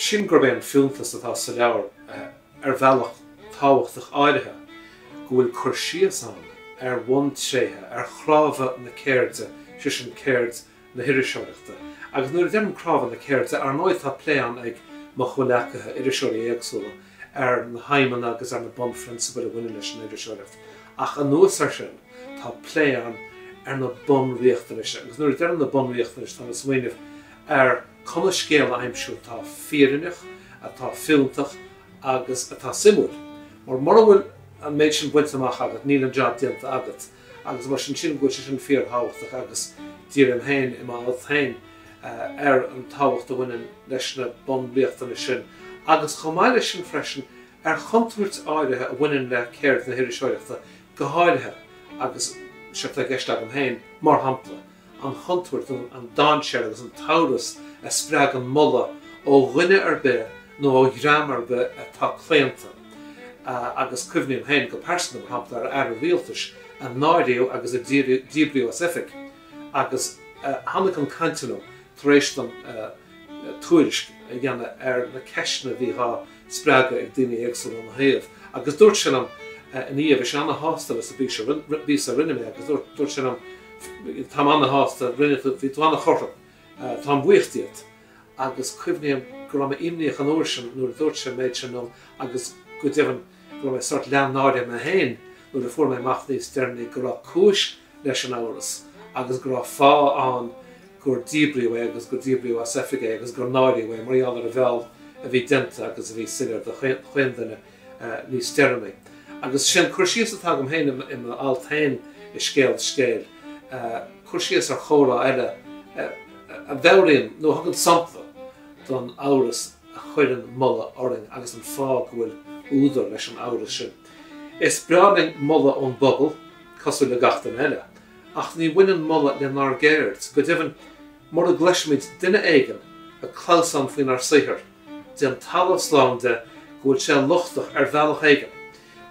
sin gurb é an fiúntas atá sa leabhar ar bhealach tábhachtach áirithe, go bhfuil cur síos ann ar bhuntréithe, ar chnámha na ceirde, sé sin ceird na hiriseoireachta. Agus nuair a deirim cnámha na ceirde, ar ndóigh tá plé ann ag mo chomhleacaithe, iriseoirí éagsúla, ar na haidhmeanna agus ar na bunphrionsabail a bhaineann leis an iriseoireacht, ach anuas air sin, tá plé ann ar na bunriachtanais, agus nuair a deirim na bunriachtanais, táim ag smaoineamh ar conas scéal a aimsiú atá fírinneach, atá fiúntach agus atá suimiúil. Mar mura bhfuil an méid sin bainte amach agat, níl an jab déanta agat. agus mar sin sin go bhfuil sé sin fíorthábhachtach agus dírím féin i m'alt féin ar an tábhacht a bhaineann leis na bunriachtanais sin agus chomh maith leis sin freisin ar chontúirt áirithe a bhaineann le ceird na hiriseoireachta go háirithe agus seo atá i gceist agam féin mar shampla an chontúirt, an dainséar agus an t-amhras a spreagann moladh ó dhuine ar bith nó ó dhream ar bith atá claonta, agus cuimhním féin go pearsanta, mar shampla, ar aire rialtais a náiríodh agus a díbríodh as oifig agus a tháinig ag caint liom tar éis dom tuairisc a dhéanamh ar na ceisteanna a bhí á spreagadh ag daoine éagsúla óna thaobh. Agus dúirt sé liom ina dhiaidh, bhí sé ana-shásta leis an bpíosa a rinne mé agus dúirt sé liom, táim ana-shásta, rinne tú, bhí tú ana-chothrom, táim buíoch díot. Agus cuimhním go raibh mé imníoch an uair sin nuair a dúirt sé an méid sin liom agus go deimhin go raibh mé sórt leath náirithe mé féin nuair a fuair mé amach níos deireanaí go raibh cúis leis an amhras agus go raibh fáth ann gur díbríodh é agus gur díbríodh as oifig é agus gur náiríodh é mar gheall ar an bhfeall a bhí déanta agus a bhí soiléir do chuile dhuine níos deireanaí. Agus sin cur síos atá agam féin i m'alt féin i Scéal Scéil, cur síos ar chomhrá eile a mheabhraíonn nó a thugann sampla don amhras a chuireann moladh orainn agus an fáth go bhfuil údar leis an amhras sin. Is breá linn moladh ón bpobal. cosúil le gach duine eile, ach ní bhaineann moladh lenár gceird, go deimhin, mura gcloisimid duine éigin ag clamhsán faoinár saothar, déan talamh slán de go bhfuil sé lochtach ar bhealach éigin.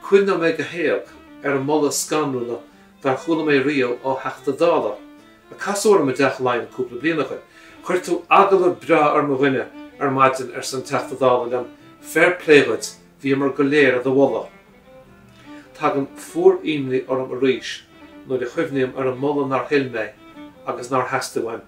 Cuimhneoidh mé go héag ar an moladh ba scanrúla dár chuala mé riamh ó Theachta Dála a casadh orm i dTeach Laighean cúpla bliain ó shin. Chuir tú agallamh breá ar mo dhuine ar maidin, arsa an Teachta Dála liom, fair play dhuit! Bhíomar go léir i do mholadh. Tagann fuarnimhe orm arís nuair a chuimhním ar an moladh nár thuill mé agus nár theastaigh uaim.